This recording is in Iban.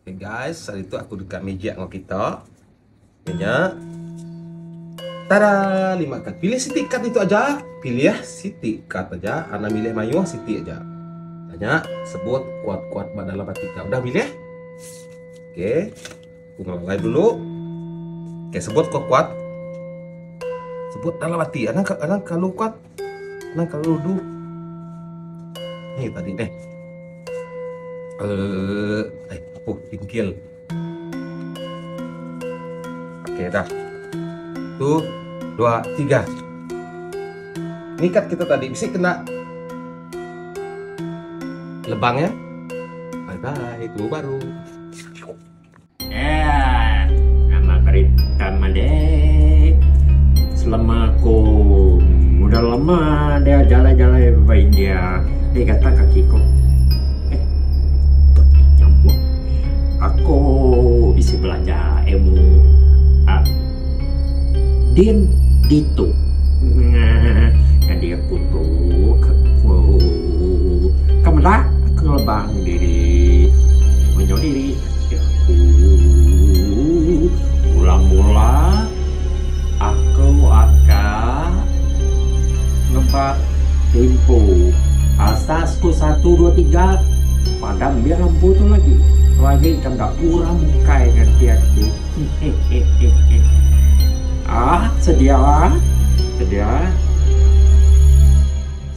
Okay guys, hari tu aku dekat magic dengan kita. Punya. Tada, lima kad. Pilih siti kad itu aja. Pilih ya, siti kad aja. Anak milih mayuh siti aja. Tanya, sebut kuat-kuat pada dalam hati kau. Udah milih? Okay. Aku ngelalai dulu. Okay, sebut kuat-kuat. Sebut dalam hati. Anak, anak kalau kuat, Nah kalau du Ni tadi deh Eh, eh apa pinggil Okey dah Tu Dua Tiga Ni kat kita tadi Bisa kena Lebang ya Bye bye Itu baru Eaa nama berita madik selema aku udah lama enda jalai jalai ba India ih gatal kaki ku eh nyambung aku bisi belanja ilmu aaa din ditu aaa nyadi aku tu ke ku ke meda aku ngelebang diri menyau diri. Jaku Ulam Bula, Aku aka ngebat empu asas ku satu dua tiga padam biar empu tu lagi lagi ka enda kurang mukai ngan ti aku ah sedia sedia.